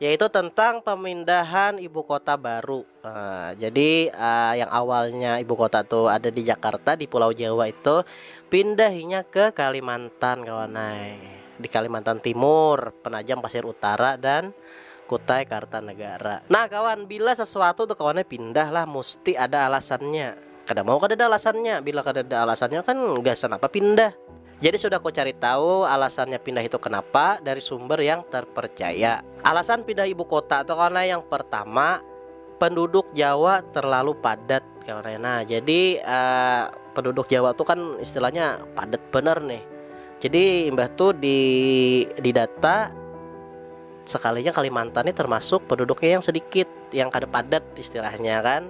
Yaitu tentang pemindahan ibu kota baru. Jadi yang awalnya ibu kota tu ada di Jakarta di pulau Jawa itu pindah inya ke Kalimantan kawan ai. Di Kalimantan Timur, Penajam Pasir Utara dan Kutai Kartanegara. Nah kawan bila sesuatu tu kawan ai pindah lah musti ada alasannya. Kada mau kadada alasannya, bila kadada alasannya kan gasan apa pindah. Jadi sudah ku cari tahu alasannya pindah itu kenapa dari sumber yang terpercaya. Alasan pindah ibu kota tu kawan ai yang pertama penduduk jawa terlalu padat kawan ai nah jadi penduduk jawa tu kan istilahnya padat banar nih jadi imbah tu di di data sekalinya kalimantan nih termasuk penduduknya yang sedikit yang kada padat istilahnya kan.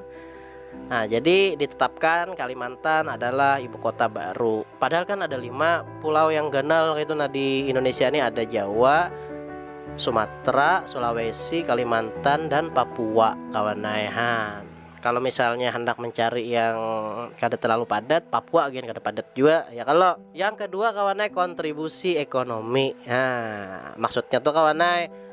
Nah, jadi ditetapkan Kalimantan adalah ibu kota baru. Padahal kan ada lima pulau yang ganal gitu nah di Indonesia ini ada Jawa, Sumatera, Sulawesi, Kalimantan dan Papua kawan nai. Ha, kalau misalnya hendak mencari yang kada terlalu padat, Papua gin kada padat jua ya kalau. Yang kedua kawan nai kontribusi ekonomi. Ha, maksudnya tuh kawan nai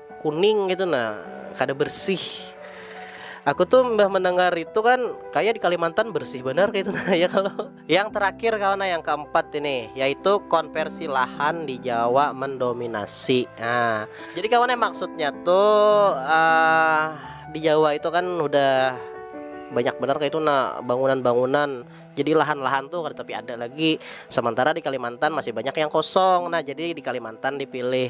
kuning gitu nah kada bersih aku tuh mbah mendengar itu kan kayak di Kalimantan bersih benar kayak itu nah ya kalau yang terakhir kawan nah yang keempat ini yaitu konversi lahan di Jawa mendominasi nah jadi kawan maksudnya tuh uh, di Jawa itu kan udah banyak benar kayak itu nah bangunan-bangunan jadi lahan-lahan tuh tapi ada lagi sementara di Kalimantan masih banyak yang kosong nah jadi di Kalimantan dipilih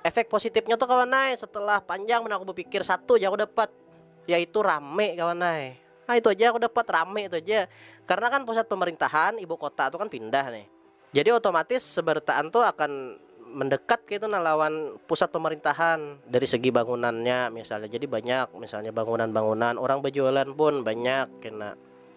efek positifnya tuh kawan ay setelah panjang mana aku berpikir satu aja aku dapat yaitu rame kawan ay nah itu aja aku dapat rame itu aja karena kan pusat pemerintahan ibu kota tuh kan pindah nih jadi otomatis sebarataan tuh akan mendekat gitu nah lawan pusat pemerintahan dari segi bangunannya misalnya jadi banyak misalnya bangunan-bangunan orang berjualan pun banyak kena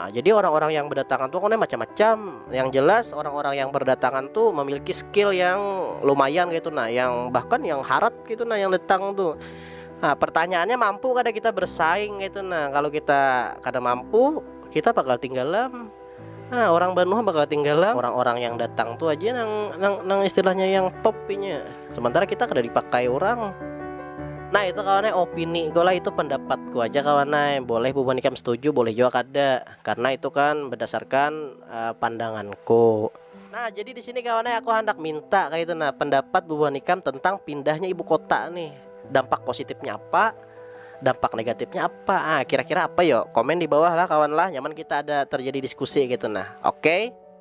Nah, jadi orang-orang yang berdatangan tuh kan macam-macam. Yang jelas orang-orang yang berdatangan tuh memiliki skill yang lumayan gitu nah, yang bahkan yang harat gitu nah yang datang tuh. Nah, pertanyaannya mampu kada kita bersaing gitu nah. Kalau kita kada mampu, kita bakal tinggalam. Nah, orang Banua bakal tinggalam orang-orang yang datang tuh aja nang nang, nang istilahnya yang top sementara kita kada dipakai orang nah itu kawannya opini ku lah itu pendapatku aja kawannya boleh bubuhan ikam setuju boleh jua kada karena itu kan berdasarkan uh, pandanganku nah jadi di sini kawannya aku hendak minta kayak itu nah pendapat bubuhan ikam tentang pindahnya ibu kota nih dampak positifnya apa dampak negatifnya apa ah kira-kira apa yo komen di bawah lah kawan lah nyaman kita ada terjadi diskusi gitu nah oke okay?